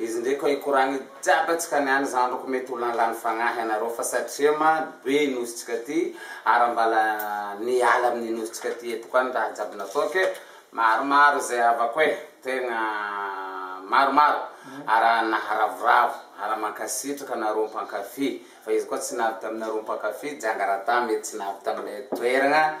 Izy ndray ko ikoragny jiaby atsikany any zandry ko mety olona lany fagnahy anareo fa satria ma be nosy tsika ty ara mbala niala aminy nosy tsika ty eto koa ny raha jiaby natao ke maromaro ze havako e tegna maromaro ara naharavoravo ara mankasitraka anareo mpankafy fa izy koa tsy navy taminareo mpankafy jiangaraha ta mety tsy navy tamle toeragna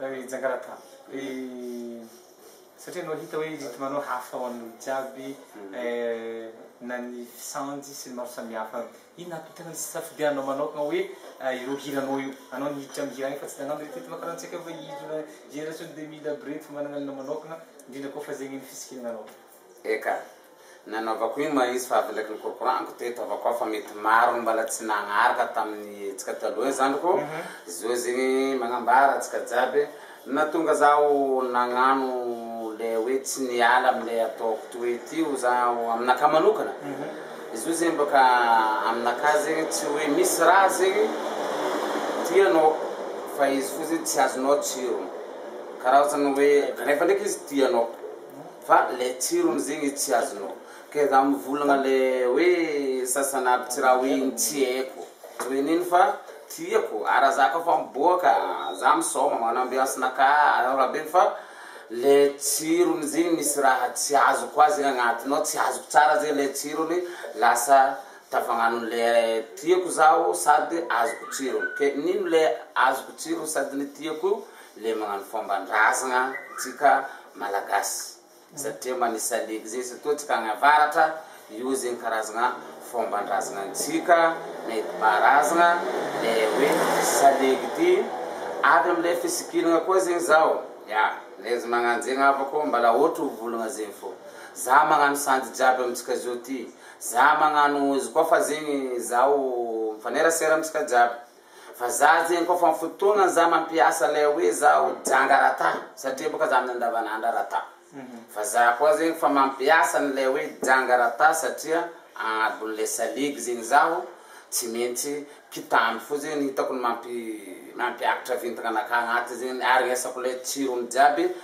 Ry Jangarata, ry satria anao hita hoe rythme anao hafa ho an'olo jiaby eh, na ny fisaonjy sy ny maro samihafa, inona ato tena ny safidiananao manaokana hoe ireo hiranao io, anao ny hiditra amin'ny hira any fa tsy nagnano reto rythme karaha antsika fa izy io na génération deux mille aby reto managna ny manaokana, indrindra koa fa zegny ny fisikinanao. Eka! nanaovako iny ma izy fa avy ndraiky nikorokoraniko teto havako aho fa mety maro no mbala tsy nagnaraka tamin'ny hetsika taloha iny zandriko zao izy iny magnambara antsika jiaby natonga zaho nagnano le hoe tsy niala amle ataoko toy ty ho zaho aminakahy manokana izy io zegny baka aminakahy zegny tsy hoe misy raha zegny tianao fa izy fo zegny tsy azonao tsirony karaha ohatrany hoe rehefa ndraiky izy tianao Fa le tsirony zegny tsy azonao. Ke za mivolagna le hoe sasany aby tsy raha hoe ny tsy haiko hoe nino fa tiako ara za ka fa miboaka za misaoma magnano ambiance naka raha be fa le tsirony zegny misy raha tsy azoko koa zegny agnatigny ao tsy azoko tsara zegny le tsirony lasa tafagnano le tiako zaho sady azoko tsirony ke nino le azoko tsirony sady ny tiako io le magnano fomban-drazagna tsika malagasy satria mba nisy salegy zay zatoa tsika agny avaratra io zegny karazagna fomban-drazagna antsika nentim-paharazagna le hoe salegy ty avy amle fisikiragna koa zegny zaho ya le izy magnano zegny havako mbala ohatry hovolagna zegny fô za magnano sanjy jiaby amitsika zao ty za magnano izy koa fa zegny zaho mifanerasera amitsika jiaby Fa za zegny kôfa am fotoagnany za mampiasa lay hoe za ho janga rata satria bôka za amin'ny andavanandra rata fa za koa zegny fa mampiasa ny lay hoe janga rata satria agnabon'ilay saligy zegny zaho tsy maintsy kitamby fo zegny hitako ny mampi mampiakatra vintagna anakahy agnaty zegny aharegnesako lay tsirony jiaby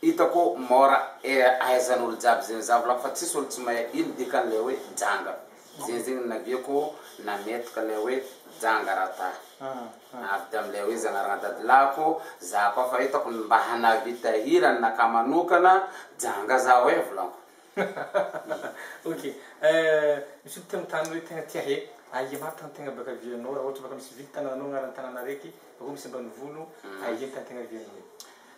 Hitako mora ahaizan olo jiaby zegny za volako fa tsisy olo tsy mahay ino dikan le hoe janga zegny zegny naviako nametraka le hoe janga ra ta avy tam le hoe zagnarana dadilahiko za koa fa hitako mba hanavita hira anaka manokana janga za hoe volanko Ok misy olo te mitany hoe tegna tia he aia ma tan tegna baka vianao ra ôhatra baka misy vily tanananao agnaran tanana araiky bakeo misy ambanivolo aia tan tegna vianao.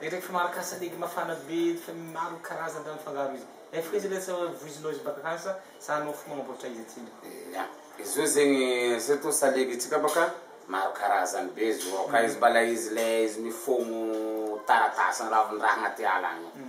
Eritreretiko fa maharaka salegy mafana be fa maro karazan-draha mifangaro izy. Efa hoe izy ilay tsy voizinao izy bak'akasa sa anao fo magnamboatra izy atsy ndry? Ia. Izy io zegny surtout salegy tsika baka maro karazany be izy io. Ka izy mbala izy ilay izy mifogno taratasy ny ravin-draha agnaty ala agny io.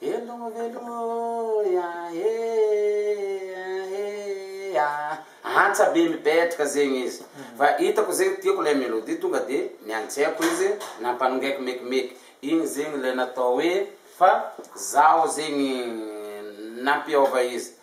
Veloma veloma e ah e ah e ah Antsa be mipetraka zegny izy Fa hitako zegny tiako ilay melodie Tonga dia niantseako izy Nampanongaiko mekimeky Igny zegny ilay natao hoe Fa zaho zegny nampihaova izy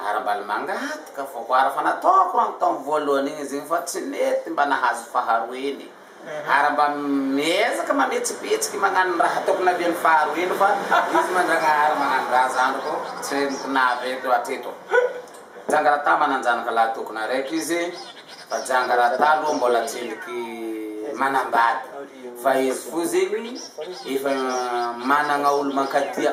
Ara-balimanga ato ka voakoara fa nataoko rango tamin'ny voalohany iny izy iny fa tsy nety mba nahazo faharoa iny. Ary mba miezaka mametsipetsiky magnano ny raha tokony navian'ny faharoa iny fa izy Mandragnahary magnano raha zandriko tsy henoko navy eto hatreto. Jangarata manan-janaka lahy tokony araiky izy fa Jangarata aloha mbola tsendriky manambady fa izy foza iny efa managna olo mankatia.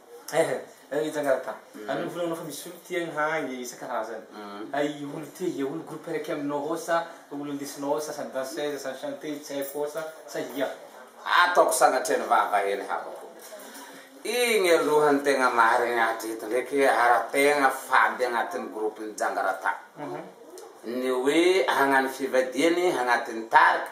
Ehe, eh, mijangara ka. Anao volanao fa misy olo ty agny ha ie isan-karazany. Hay olo ty ie olo groupe raiky aminao ao sa olo indesinao ao sasany danseuse sa chanteuse tsy haiko ao sa sa ia. Ataoko sanatrian'ny vava hely havako. Igny aloha ny tegna marigny hatreto ndraiky ary tegna fady agnatin'ny groupe ny jangarata. Ny hoe hagnano fivadihany agnatin'ny tarika.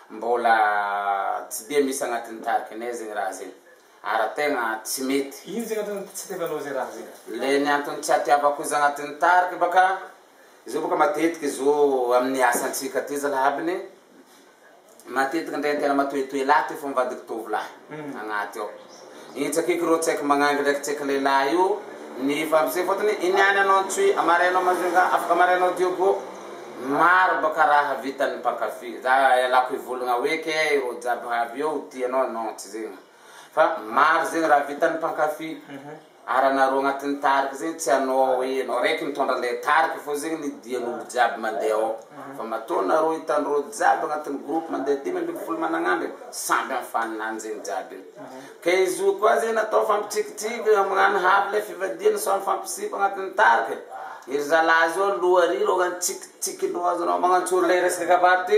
Mbola tsy dia misy agnatin'ny tarikinay zegny raha zegny. Ary tegna tsy mety. Ino zegny antony tsy itiavanao ze raha zegny? Le ny antony tsy atiavako izy agnatin'ny tarika baka, zao baka matetiky izo amin'ny asantsika ty zalahy aby ne, matetiky ndray tena matoetoe lahy ty fô mivadiky tovolahy agnaty ao. Io tsakiko ro tsaiky magnangy ndraiky tsaiky lehilahy io nifampise fotony iny any anao Antsohihy amary anao Majunga afaka amary anao Diogo maro baka raha vitany mpankafy za ialako hivolagna hoe ke ro jiaby havy eo ho tia anao non tsy zegny fa maro zegny raha vitany mpankafy Ary anareo agnatin'ny tarika zegny tsy anao hoe anao raiky mitondra an'ilay tarika fô zegny ny dian'olo jiaby mandeha ao fa matoa nareo hitanareo jiaby agnatin'ny groupe mandeha dimy ambin'ny folo managn'andriny samby am faninany zegny jiaby io ke izy io koa zegny natao fampitrikitriky magnano havy le fivadihana sao mifampisipa agnatin'ny tarika e, ery zalahy zao aloha ary reo tsikitsiky loha azonao magnantsory le resaka avy ato ty.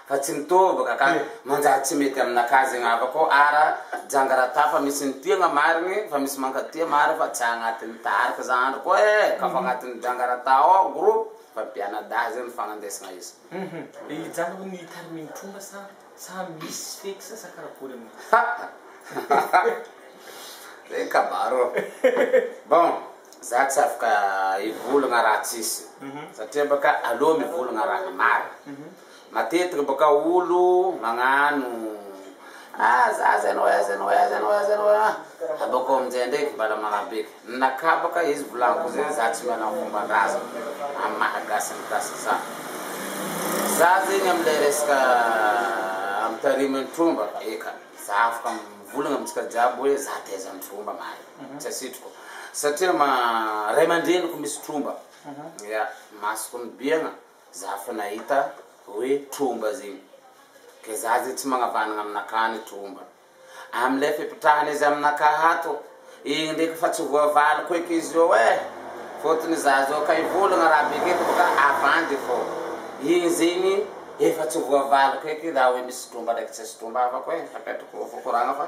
Fa tsy mitoboka ka. Manjary tsy mety aminakahy zegny havako ara janga ra ta fa misy ny tiagna marigny fa misy mankatia marigny fa tsy agnatiny tarika za andry koa e ka fa agnatiny janga ra ta ao groupe fa mpiana dahy zegny fagnandesagna izy. Hum hijanona ho ny tariminy tromba sa sa misy fixe sa karakory amin'io. Zay kabaro. Bon za tsy afaka hivolagna raha tsisy satria baka aleo mivolagna raha marigny. Matetika boka olo magnano ah za zay anao aiza anao aiza anao aiza anao ah abakeo amizay ndraiky bala manabeka nakabaka izy volagniko zay za tsy manao fombandrazako am maha gasy ny gasy za za zegny amle resaka am tarimy ny tromba eka za afaka mivolagna amitsika jiaby hoe za taiza ny tromba mahay tsy asitriko satria ma ray amandreniko misy tromba ya masoko mibiagna Za fa nahita hoe tromba zegny ke za zegny tsy magnavagnana aminakahy ny tromba amle fipitrahana izy aminakahy ato igny ndreky fa tsy voavaliko eky izy io e fotony za zao ka hivolagna raha beka eto boka avandy fô igny zegny efa tsy voavaliko eky raha hoe misy tromba ndreky tsisy tromba havako e apetrako fo koragna fa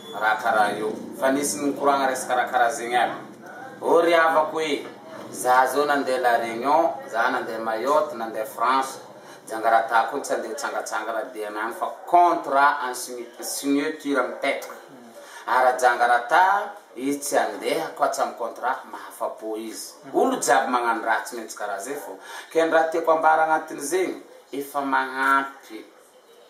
Raha karaha io fa nisy nikoragna resaka raha karaha zegny aby ô ry havako e! Za zao nandeha la Réunion, za nandeha Mayotte, nandeha France, Jangarata koa tsy andeha hitsangatsanga raha dia anany fa contrat en signeture mipetraka. Ary Jangarata izy tsy andeha koa tsy am contrat, mahafa-po izy. Olo jiaby magnano raha tsy maintsy karaha zay fô. Ke ny raha tiako ambara agnatin'izegny, efa magnampy.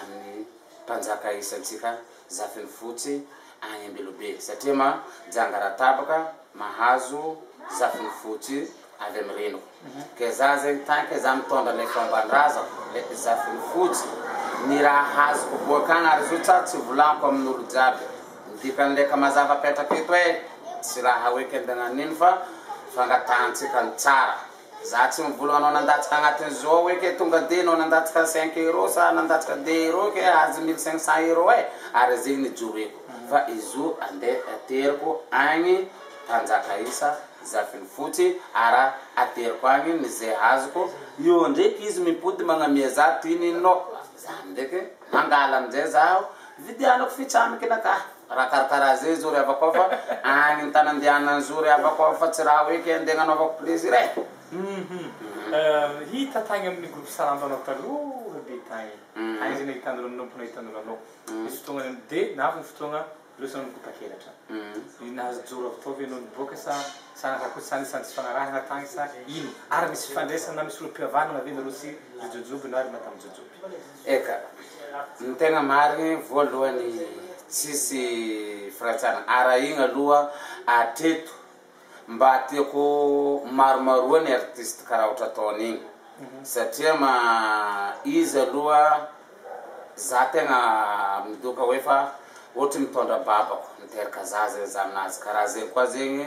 amin'ny mpanjaka isantsika Zafinifotsy any Ambilobe satria ma janga raha tapaka mahazo Zafinifotsy avy amin'ny reniko ke za zegny tant que za mitondra le fomban-drazako le Zafinifotsy ny raha azoko boak'agny ary zo tsa tsy volaniko amin'olo jiaby ny dikan'le ka mazava apetrako eto e tsy raha hoe kembe agnan'ino fa fangatahantsika ny tsara Za tsy mivola anao nandatsaka agnatin'ny zao hoe ke tonga de anao nandatsaka cinq euro sa nandatsaka deux euro ke azo mille cinq cent euro e ary ze nijoroeko fa izo ande ateriko agny mpanjaka isa zafiny fotsy ara ateriko agny ny ze azoko eo ndreky izy mipody magnamia za toy ny inona zany ndreky mangala amizay zaho vidianako fitsamiky nakahy. Raha karakara zay zao ry havako aho fa any ny tany andehanany zao ry havako aho fa tsy raha hoe kay andeha agnanaovako plaisir eh! Humm hita tagny amin'ny groupe Salando anao taloha be tagny tagny zay nahita anareo nanompo nahita anareo anao nisy fotoagna nany de nahavy ny fotoagna leo sa nikotakelatra i nahazo joro avy tao ve anao niboaka sa sa naka koa sa nisy antsy fanarahana tagny sa ino ary misy fifandraisana na misy olo-pihavanagna ve nareo sy ry jojoby na ry madame jojoby. Eka! Ny tegna marigny voalohany tsisy firantsana arahigna aloha atreto mba tiako maromaroa ny artiste karaha ohatra ataony igny satria ma izy aloha za tegna midoka hoe fa ohatry mitondra babako miteraka zaza eo za aminazy karaha zegny koa zegny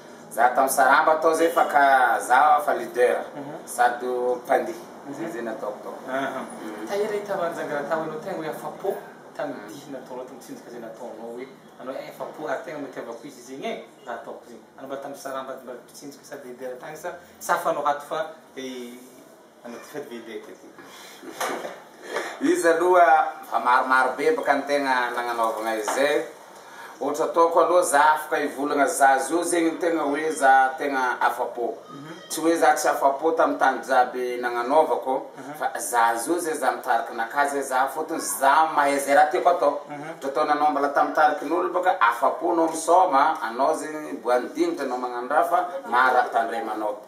Za ato am saramba ato zay fa ka za fa leader sady mpandihy zay zay nataoko tao umm. Tahiry ahita Manjagara tao hoe anao tegna hoe afa-po tamin'ny dihy nataonao tamin'ny tsinjaka zay nataonao hoe anao eh afa-po ary tegna nitiavako izy zegny eh za ataoko zegny anao mba tam saramba mba mpitsinjaka sady leader tagny sa sa fa anao ato fa eh. Izy aloha efa maromaro bebaka ny tegna nagnanaovagna izay, ohatra ataoko aloha za afaka hivolagna za zao zegny ny tegna hoe za tegna afa-po, tsy hoe za tsy afa-po tamin'ny tany jiaby nagnanaovako fa za zao zay za mitariky naka zay za fôtony za mahay zay raha tiako atao, ohatra ataonao anao mbola tamin'ny tarikin'olo bôka afa-po anao misôma, anao zegny boahan'ny dingitry anao magnano raha fa maro raha tandremanao.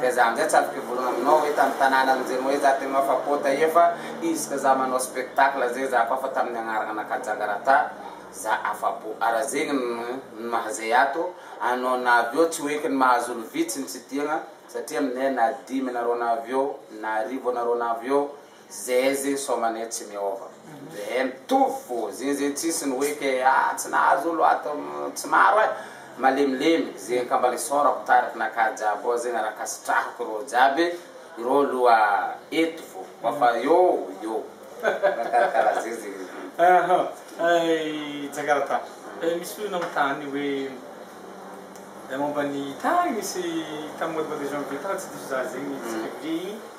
Ka za amzay tsy azo mpivorogna aminao hoe tam tanàna anjemoay za tegno afa po taia fa izy ka za manao spectacle zay za koa fa taminy agnaragna anaka jangarata za afa po ara zegny ny maha zay ato anao na avy eo tsy ho eky ny mahazo olo vitsy ny tsidiagna satria aminay na dimy anareo na avy eo na arivo anareo na avy eo Zeze somanee tsy miova be mitovy fo zeze tsisy ny hoe ke ah tsy nahazo olo ato tsy maro eh malemilemy ze kamba le sorako tariky naka jiaby ao zegny raha kasitrahako reo jiaby reo loha eto fo koa fa eo eo mikarakara zeze Ahh ay Jakarta eh misy olo nanontany hoe momba ny tany misy tam mois de janvier tany tsy diso za zegny tsy publier i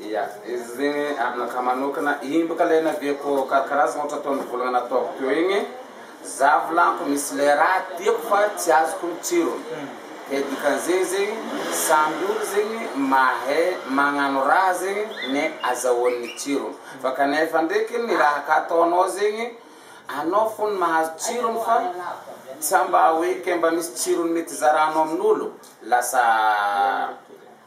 Ia, izy zegny aminakahy manokana imbaka le naviako karakarazagna ohatra tao nivolagna nataoko teo igny, za volaniko misy le raha tiako fa tsy azoko ny tsirony, ke dikan'izegny zegny samby olo zegny mahay magnano raha zegny ne azahoany ny tsirony, fa kanefa ndreky ny raha ka ataonao zegny anao fony mahazo tsirony fa sa mba hoe ke mba misy tsirony mety zaranao amin'olo, lasa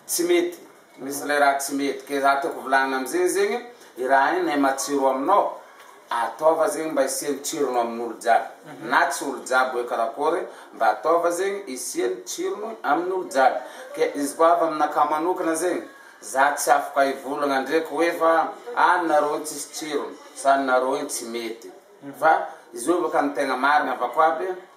tsy mety. Misy le raha tsy mety ke za tiako volagnina amzegny zegny i raha igny nay matsiro aminao ataova zegny mba isiany tsirony aminolo jiaby na tsy olo jiaby hoe karakory mba ataova zegny isiany tsirony aminolo jiaby ke izy koa avy aminakahy manokana zegny za tsy afaka ivolagna ndreky hoe fa ah ny nareo igny tsisy tsirony sa ny nareo igny tsy mety fa izovy aka ny tegna marigny avako aby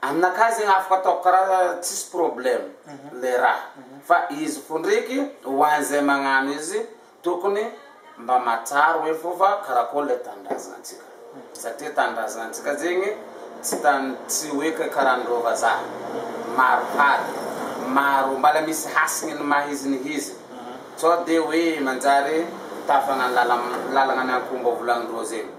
Aminakahy zegny afaka ataoko karaha tsisy problème le raha fa izy ko ndreky ho an'izay magnano izy tokony mba matrary hoe fô fa karakory le tanindrazantsika satria tanindrazantsika zegny tsy tany tsy hoe kay karaha an'ireo vazaha maro hady maro mbala misy hasigny ny maha izy ny izy sao de hoe manjary tafagna ny lala- lalagna miankomba volagnin-dreo zegny.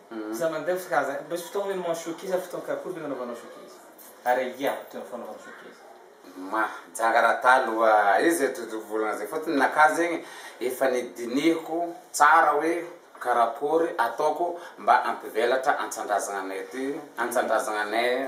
Iza mandeha ho sahaza ahy? Misy fotoana ianao mahasoa ankizy ary fotoana karakory ve no anaovanao soa ankizy? Ary aia no toerana fanaovana soa ankizy? Mahajanga raha taloha io zay tojo volana zay fotony naka zegny efa nidinihiko tsara hoe karakory ataoko mba ampivelatra antsandrazagnanay ty antsandrazagnanay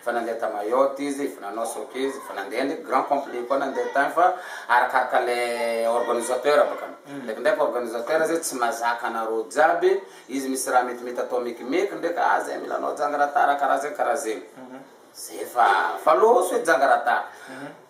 Efa nandeha ta Mayotte izy, efa nanao soc izy, efa nandeha ndreky grand complet koa nandeha tany fa arakaraka le organisateur bakany. Ndreky ndreky organisateur zay tsy mazaka anareo jiaby, izy misy raha mety mety atao mekimeky ndreky ah zay mila anao janga ra ta ra karaha zay karaha zegny. Zay fa fa loso e janga ra ta.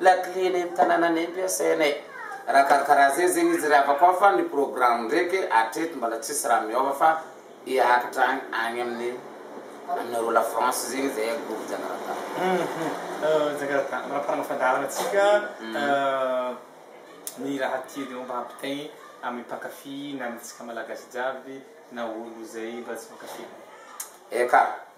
Lakile eny am tananany eny ve asainay raha karakara zay zegny izy ry havako an fa ny programme ndraiky hatreto mbola tsisy raha miova fa hiakatra agny agny amin'ny aminareo la France zegny izy zay agory Jakarta. Jakarta manaparana fandaharana antsika ny raha tianao mba hampitaigny amin'ny mpankafy na amintsika malagasy jiaby na olo zay mbola tsy mpankafy. Eka.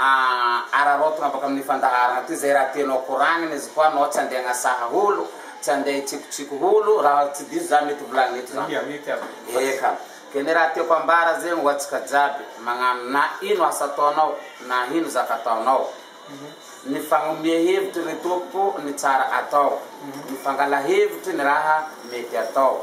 Aah araraotina avaka amin'ny fandaharana ty zay raha tianao koragnina izy koa anao tsy andeha agnasaha olo, tsy andeha hitsikotsiko olo, raha tsy diso za mety volagny eto zany eka ke ny raha tiako ambara zegny ho atsika jiaby magnano na ino asa ataonao na ino zaka ataonao ny fagnomea hevitry ry tompoko ny tsara atao ny fangala hevitry ny raha mety atao